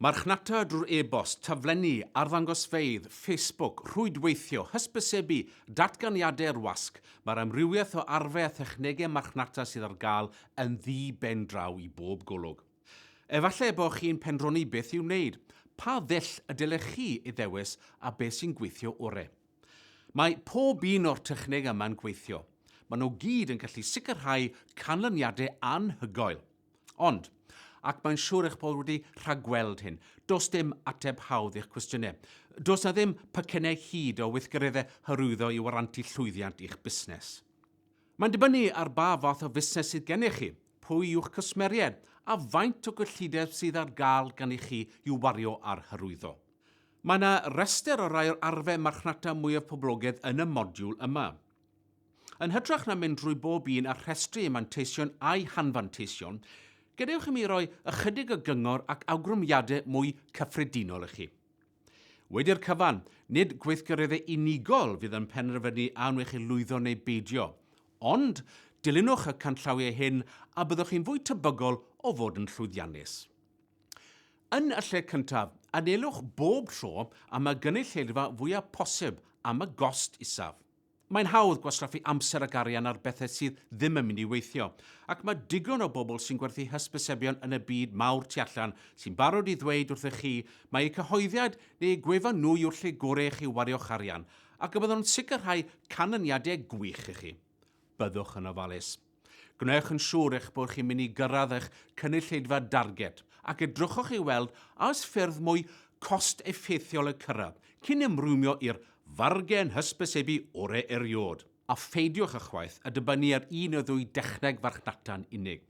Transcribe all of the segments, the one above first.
Marchnata drwy'r e-bost, taflenni, arddangosfeydd, Facebook, rhwydweithio, hysbysebu, datganiadau i'r wasg, mae'r amrywiaeth o arfau a thechnegau marchnata sydd ar gael yn ddi-ben draw i bob golwg. Efallai y bod chi'n pendroni beth i'w wneud, pa ddull y dylech chi ei ddewis a beth sy'n gweithio orau. Mae pob un o'r technegau yma'n gweithio. Maen nhw gyd yn gallu sicrhau canlyniadau anhygoel. Ond, ac mae'n siŵr eich bod wedi rhagweld hyn, does dim ateb hawdd i'ch cwestiynau. Does na ddim pecynnau hud o weithgareddau hyrwyddo i warantu llwyddiant i'ch busnes. Mae'n dibynnu ar ba fath o fusnes sydd gennych chi, pwy yw'ch cwsmeriaid, a faint o gyllideb sydd ar gael gan i chi i'w wario ar hyrwyddo. Mae yna restr o rai o'r arfau marchnata mwyaf poblogaidd yn y modiwl yma. Yn hytrach na mynd drwy bob un a rhestru ei manteision a'i hanfanteision, gadewch i mi roi ychydig o gyngor ac awgrymiadau mwy cyffredinol i chi. Wedi'r cyfan, nid gweithgareddau unigol fydd yn penderfynu a wnewch chi lwyddo neu beidio, ond dilynwch y canllawiau hyn a byddwch chi'n fwy tebygol o fod yn llwyddiannus. Yn y lle cyntaf, anelwch bob tro am y gynulleidfa fwyaf posib am y gost isaf. Mae'n hawdd gwastraffu amser ac arian ar bethau sydd ddim yn mynd i weithio, ac mae digon o bobl sy'n gwerthu hysbysebion yn y byd mawr tu allan sy'n barod i ddweud wrthych chi mai eu cyhoeddiad neu eu gwefan nhw yw'r lle gorau i chi wario'ch arian ac y byddwn yn sicrhau canlyniadau gwych i chi. Byddwch yn ofalus. Gwnewch yn siŵr eich bod chi'n mynd i gyrraedd eich cynulleidfa darged, ac edrychwch i weld a oes ffyrdd mwy cost-effeithiol eu cyrraedd cyn ymrwymio i'r fargen hysbysebu orau erioed, a pheidiwch ychwaith â dibynnu ar un neu ddwy dechneg farchnata'n unig.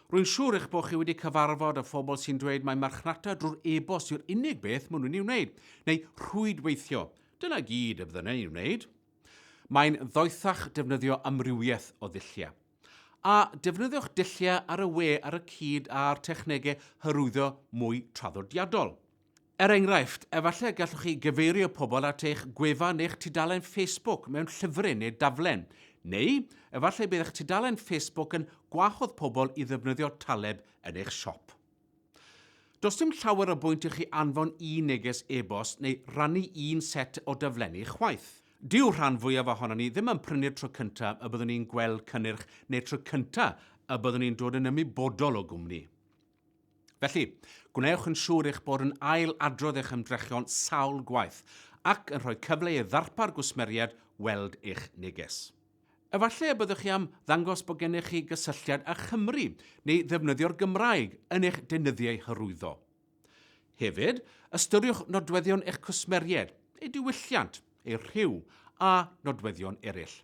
Rwy'n siŵr eich bod chi wedi cyfarfod â phobl sy'n dweud mai marchnata drwy'r e-bost yw'r unig beth maen nhw'n ei wneud, neu rhwydweithio, dyna gyd y bydden nhw'n ei wneud. Mae'n ddoethach defnyddio amrywiaeth o ddulliau. A defnyddiwch dulliau ar y we ar y cyd â'r technegau hyrwyddo mwy traddodiadol. Er enghraifft, efallai gallwch chi gyfeirio pobl at eich gwefan neu'ch tudalen Facebook mewn llyfryn neu daflen. Neu, efallai bydd eich tudalen Facebook yn gwahodd pobl i ddefnyddio taleb yn eich siop. Does dim llawer o bwynt i chi anfon un neges e-bost neu rannu un set o daflenni chwaith. Dyw'r rhan fwyaf ohonon ni ddim yn prynu'r tro cyntaf y byddwn ni'n gweld cynnyrch neu'r tro cyntaf y byddwn ni'n dod yn ymwybodol o gwmni. Felly, gwnewch yn siŵr eich bod yn ail-adrodd eich ymdrechion sawl gwaith ac yn rhoi cyfle i'r ddarpar gwsmeriaid weld eich neges. Efallai y byddwch chi am ddangos bod gennych chi gysylltiad â Chymru neu ddefnyddio'r Gymraeg yn eich deunyddiau hyrwyddo. Hefyd, ystyriwch nodweddion eich cwsmeriaid, eu diwylliant, eu rhyw a nodweddion eraill.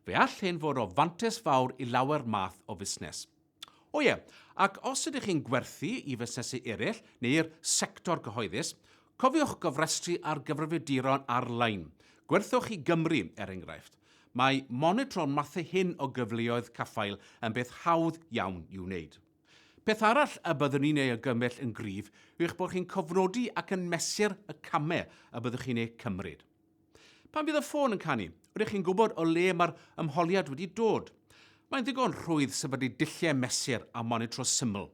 Fe all hyn fod o fantais fawr i lawer math o fusnes. O ie, ac os ydych chi'n gwerthu i fusnesu eraill neu'r sector cyhoeddus, cofiwch gofrestru ar gyfrifiaduron ar-lein. Gwerthwch i Gymru, er enghraifft. Mae monitro'r mathau hyn o gyfleoedd caffael yn beth hawdd iawn i'w wneud. Peth arall y byddwn i'n ei argymell yn gryf yw eich bod chi'n cofnodi ac yn mesur y camau y byddwch chi'n eu cymryd. Pan fydd y ffôn yn canu, rydych chi'n gwybod o le mae'r ymholiad wedi dod. Mae'n ddigon rhwydd sefydlu dulliau mesur a monitro syml.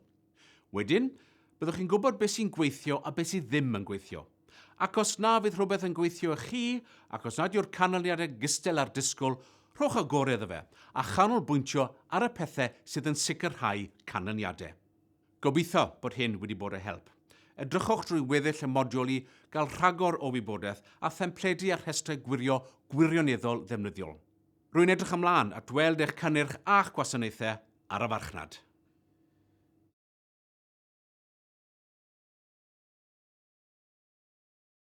Wedyn, byddwch chi'n gwybod beth sy'n gweithio a beth sydd ddim yn gweithio. Ac os na fydd rhywbeth yn gweithio i chi, ac os nad yw'r canlyniadau'n gystal â'r disgwyl, rhowch y gorau iddo fe, a chanolbwyntio ar y pethau sydd yn sicrhau canlyniadau. Gobeithio bod hyn wedi bod o help. Edrychwch drwy weddill y modiwl i gael rhagor o wybodaeth a thempledi a rhestrau gwirio gwirioneddol ddefnyddiol. Rwy'n edrych ymlaen at weld eich cynnyrch a'ch gwasanaethau ar y farchnad.